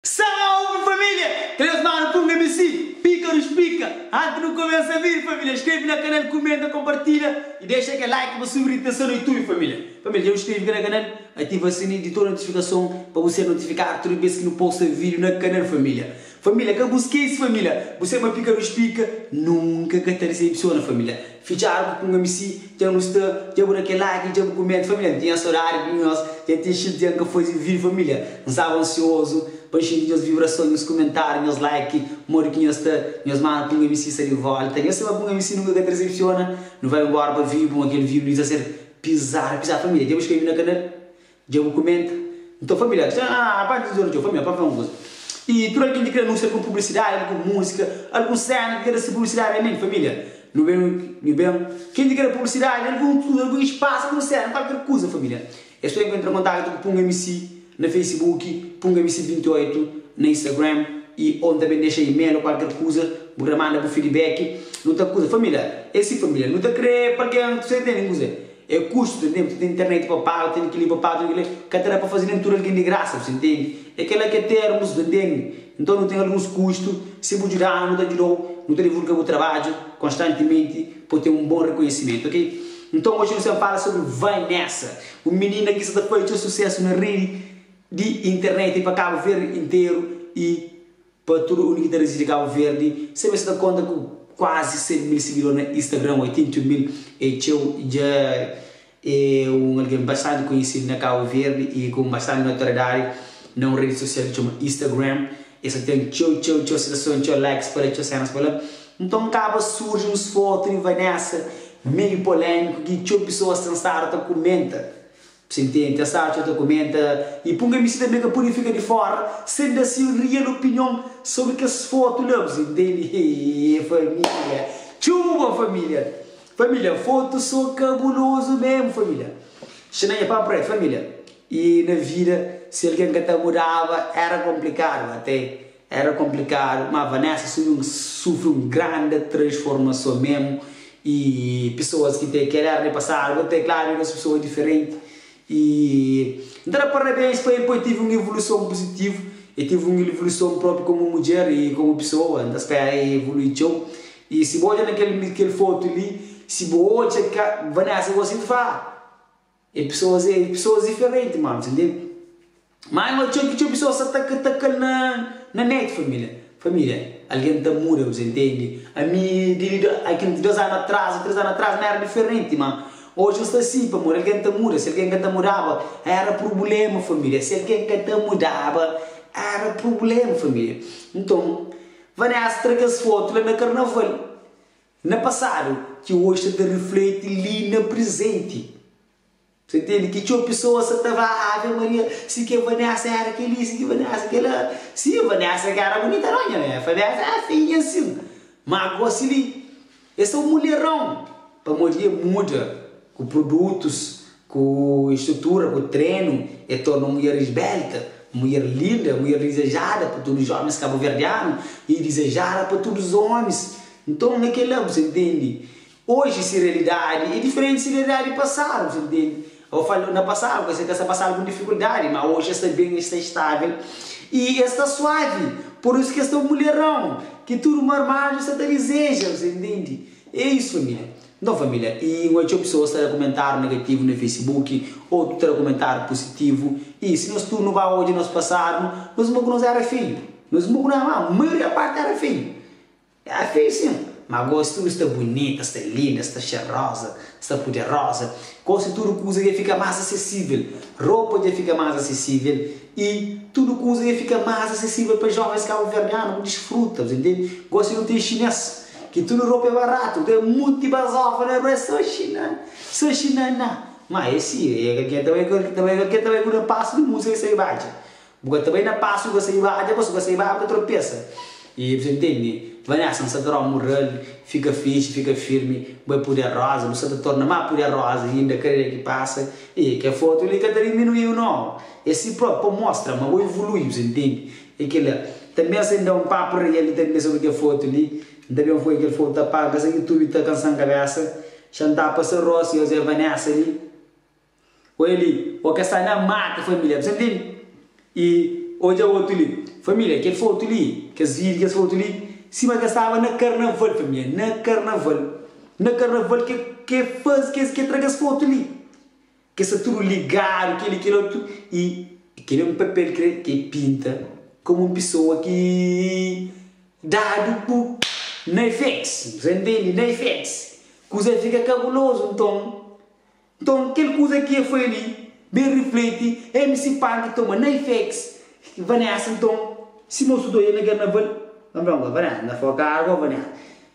Sawau mi família! Três manu pum abc, pika nos pika! Anti nu kumesa vídiu família skrebe na kanal kumenta konpartilha i dexa kel like pa subi ritenson na youtube família família dja bu skrebe ka na kanal ativa sininhu di tudu notifikason pa bu ser notifikadu tudu bes ki nu posta vídiu na kanal família. Família ka bus kes família bu seba pikadus pika nunka ka ta desepsiona família fitxadu ku kunga mi si dja nu sta dja bu da kel like dja bu kumenta família n tinha sodadi di nhos dja ten xinti dia n ka faze vídio família n staba ansiozu pa n xinti nhos vibrason nhos kumentadu nhos like modi ki nhos sta nhos manu kunga mi si sta di volta nhos seba kunga mi si nunka ka ta desepsiona nu vai nbora pa vibu ma kel vibu li ta ser pizadu pizadu família dja bu skrebe na kanal Dja bu kumenta? N ta fla Pilátus, Â, aba antis di ora, Jeová mê, pa N fla un kuza. I tudu algen ki krê anúnsia algun publisidadi, algun múzika, algun séna ki ta da-s publisidadi. Amin, família, nu ben, nu ben. Ken ki krê publisidadi, algun tudu, algun espasu, algun séna, kualker kuza, família, é sô entra na kontaktu ku Punga MC na Facebook, Punga MC 28 na Instagram i, ô N ta ben dexa e-mail ô kualker kuza, bu ta manda bu fidibéki. Nu ta kuza, família. É si, família. Nu ta krê pa algen, bu ta intende kuza? É kustu, ta intende? P'se ten internet pa paga, ta ten kel-li pa paga, ta ten kel-li, ka ta da pa faze nen tudu algen di grasa, p'se intende? É kel-la ki é termus, ta intende? Nton, nu ten alguns kustu, si bu djuda-nu, nu ta djuda-u, nu ta divulga bu trabadju konstantimenti pa bu ten un bon rekonhisimentu, ok? Nton, oji nu sta fala sobri Vanessa, un minina ki sta ta faze txeu susésu na redi di internet pa Kabu Verdi interu i. Pa tudu un ki ta residi Kabu Verdi, sabe sa ta konta ku kuazi 100 mil sigidor na Instagram, 81 mil é txeu, i dja é un algen bastanti konhesidu na Kabu Verdi i ku bastanti notoriedadi na un redi sosial ki txoma Instagram. Es ta ten txeu, txeu, txeu sitason, txeu likes pa la, txeu sénas pa la. Nton, kaba surji uns fotu di Vanessa meiu polémiku ki txeu pesoas ten stadu ta kumenta Psintenti, es atxa, ta kumenta, i punga mi si tanbe ka pudi fika di fora sen da si rial opinion sobri kes fotu la. Bu intendi? Hee, família! Txeu bon, família! Família, fotu so kabulozu mésmu, família! Xina nha pâpra é, família, i na vida, si algen ka ta mudaba, éra konplikadu. Atê Era konplikadu, má Vanessa subi un sufri un grandi transformason memu. I pesoas ki te kel éra di pasadu ba ta kladu, i nos pesoas diferenti. I N ta da parabéns pa el poi tevi un evoluson puzitivu. El tevi un evoluson propi komu mudjer i komu pesoa. N ta spera el evolui txeu. I si bo odja na kel fotu li, si bo odja ka Vanessa gosi, el ta fla, Ah! E pesoas é pesoas diferenti ma Alves lê mai ma txeu ki txeu pesoas sa ta ka ta ka-l na na net família família algen ta muda Alves intendi ami di di ai ki dos anu atras o tres anu atras ma éra diferenti ma oji nhos ta si pamodi algen ta muda si algen ka ta mudaba éra prubléma família si algen ka ta mudaba éra prubléma família nton Vanessa tra kes fotu la na karnaval Na pasadu, ki oji sta ta rifleti li na prizenti. Sa intende ki txeu pisoas sa ta va Ave Maria, si ke Vanessa era keli, si ke Vanessa kela. Si, Vanessa ka era bunita no, nha bem, Vanessa era feinha ansin. Ma gosi li, e sa un muleron, pamodi e muda ku produtus. Ku istrutura, ku trenu, el torna un mudjer isbelta, un mudjer linda, un mudjer dizejada pa tudu jómis kabuverdianu i dizejada pa tudu ómis. Nton, é kel-la, bu ta intende. Oji se realidadi é diferenti di se realidadi di pasadu, bu ta intende. Aos fala, na pasadu, es ka sta pasa algun difikuldadi, má oji es sta ben, es sta istável i es sta suavi. Pur isu ki es ta un mulherão ki tudu marmadu sta ta dizeja, bu ta intende. É isu, família. Nton família, i N odja txeu pesoas ta da kumentáriu negativu na Facebook, otu ta da kumentáriu pusitivu. I si nos tudu nu ba odja nos pasadu, nos inba ku nos éra feio. Nos inba ku nos ama, maioria párti éra feio. Éra feio sin. Má gósi tudu sta bunita, es sta linda, es sta xeroza, es sta puderoza. Gósi tudu kuza dja fika más asesível. Ropa dja fika más asesível i tudu kuza dja fika más asesível pa jóvens kabuverdianu ku disfruta. Bu ta intende? Gósi nu ten xinês, Ki tudu ropa é baratu Ka é muti bazofa na rua É so xinã, so xinã na Ma é si, é ka kel ta bai Kel ta bai, ka kel ta bai Ku na pasu di musa é sai badja Bu ka ta bai na pasu ka sai badja Pasu ka sai badja bu ta tropesa E bu ta ntende Vanessa N sa ta rompu ral Fika fixi, fika firmi Bai puderoza Bu sa ta torna má puderoza Inda kada dia ki pasa E kel fotu li ka ta diminuiu nau É si própi pa mostra ma bu ivului Bu sa ntende É kel la. Tanbê N sta ben da un papu riba kel-li tanbê sobri kel fotu li. N ta ben foi kel fogu ta paga sa ki tubi ta kansa N kabésa. Xa N ta pasa Ross i José Vanessa li. Odja li, o ka sta na mata família. Bsta ntende? I odja otu li. Família, kel fotu li, kes vídiu, kes fotu li, sima ki es staba na karnaval, família. Na karnaval. Na karnaval ki es faze, ki es tra kes fotu li. Ke sta tudu ligadu keli kel otu i kel é un papel kre ke pinta komu un pisoa ki dadu ku naifex bu sa intendi naifex kuza fika kabulozu nton nton kel kuza ki e foi li ben rifleti mc panki toma naifex vanessa nton sima otu doi e na karnaval na foka agua vanessa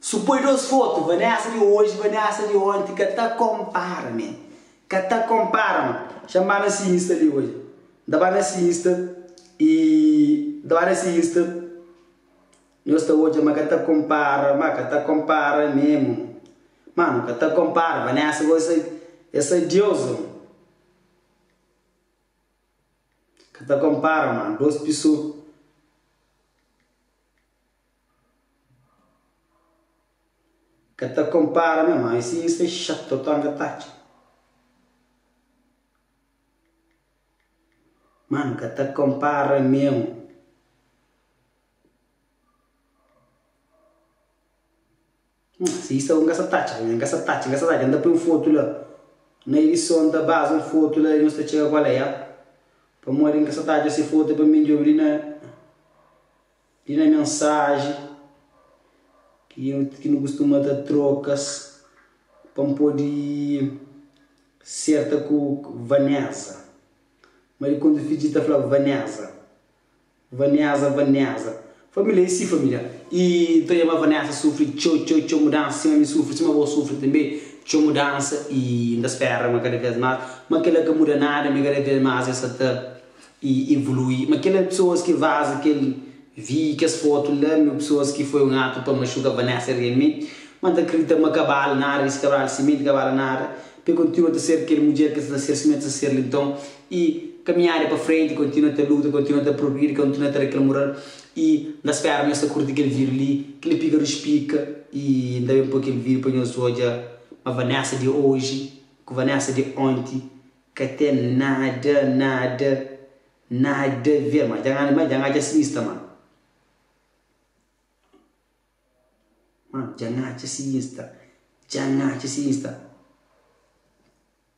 Su poi dos foto Vanessa di hoje Vanessa di onti ka ta compara me ka ta compara ma xa ba na si insta li hoje n ta ba na si insta e n ta ba na si insta nhos ta odja ma ka ta compara ma ka ta compara me mo ma no ka ta compara Vanessa gosi sa e sa deusa mo ka ta compara ma dos piso. Ka ta konpara me ma esse insta é chato total nhá ta atxa Mano ka ta konpara meu Nhã, si i sta un gasataca, nha, gasataca, gasataca, el ta poi un fotu la. Na edison ta baza un fotu la i nos ta txega ku el la. Pamodi N ka sta ta atxa si fotu, é pa mi N djobe li na, li na mensaji ki nu, ki nu kustuma ta trokas pa N pode serta ku Vanesa. Ma di konta fidji ta fla, Vanesa. Vanesa Vanesa Família e si família i N ta dja-ba Vanesa sufri txeu txeu txeu mudansa sima mi sufri sima bo sufri tanbe txeu mudansa i N ta spera ma kada vez más ma kel-la ka muda nada mi kada vez más el sa ta evolui ma kel-la pesoas ki vaza kel vi kes fotu la mi pesoas ki foi un atu pa maxuka Vanesa realmenti ma N ta kridita ma ka bali nada kes ki ta bali simenti ka bali nada pa el kontinua ta ser kel mudjer ki el sa ta ser sima el ta ser li nton i kaminhada pa frenti kontinua ta luta kontinua ta progridi kontinua ta reklamural i N ta spera nhos ta kurti kel vídiu li ki li pika dus pika i N ta ben poi kel vídiu pa nhos odja ma Vanessa di oji ku Vanessa di onti ka ten nada nada nada ver ma dja N dja N atxa si insta ma ma dja N atxa si insta dja N atxa si insta.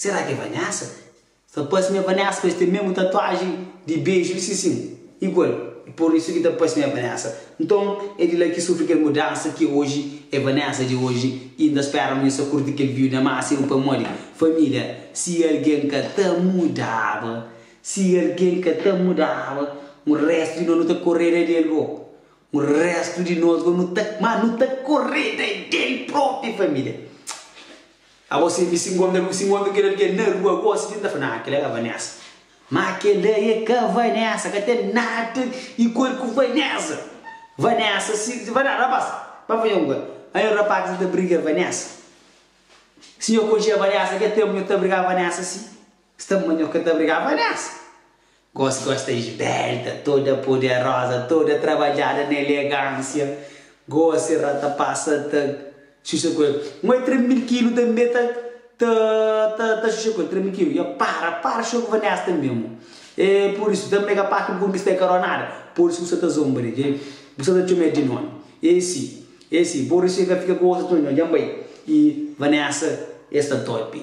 Sera ki é Vanessa? Sa parse mi é Vanessa pa es ten mesmu tatuaji di beju di Sisin igual e por isu ki ta parse mi é Vanessa. Nton é di la ki sufri kel mudansa ki oji é Vanessa di oji i inda spera ma mi sa kurti kel viu na maksimu pamodi familia. Si algen ka ta mudaba, si algen ka ta mudaba, un restu di nos nu ta koreda di el bo, un restu di nos bo nu ta, ma nu ta koreda del propi familia. Abo si si nkontra si nkontra kel algen na rua gosi ki n ta fla, nah kel la ka Vanesa. Ma kel la e ka Vanesa, ka ten nada igual ku Vanesa. Vanesa si si Vanesa rapaz, pa faze un kuza, a nho rapaz ki ta briga Vanesa. Si nho konxia Vanesa kel tenpu nho ta briga Vanesa si, sta ma nho ka ta briga Vanesa. Gosi gosta esbelta, toda poderosa, toda trabadjada na elegansia. Gosi ra ta pasa ta xuxa ku el. Nho e tres mil kilu tanbe ta ta ta ta xuxa ku el. Tres mil kilu, ya para, para xuxa ku Vanesta mesmo. E pur isu, tanbe ka pa ki bu konkista e karó nada. Pur isu bu sta ta zomba di el, bu sta ta txoma el di nomi. E si, e si, bo rixa ka fika ku otus nho-nho, djan bai. I Vanesta e sta topi.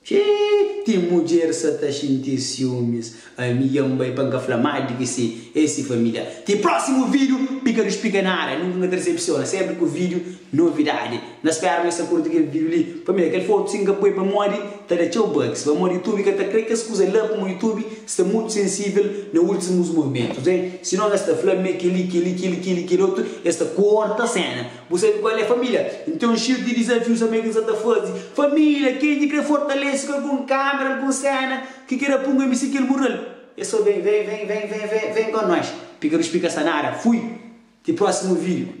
Ke ti mudjer sa ta xinti siumis ami ya nbai pa nka fla mal di ki si ex si familia ti prosimu video pika nu spika nada nunka nka ta desepsiona senpri ku video novidadi na spera ma es ta kurti kel video li pamia kel foto si nka poi pamodi ta da txeu bugs pamodi youtube ka ta kre kes kuza la kuma youtube sta mutu sensivel na ultimus momentus en sinon es ta fla ma kel li kel li kel li kel li kel otu es ta korta sena Bu sabe kal é família? N ten un xir di dizafius amé ki N sa ta faze. Família, ken ki krê fortalese ku algun kámera, algun séna ki krê da pun-m misi kel mural, é sô ben, ven, ven, ven, ven, ven, ven kon nos. Pika dus pika sa nada. Fui! Ti prósimu vídiu.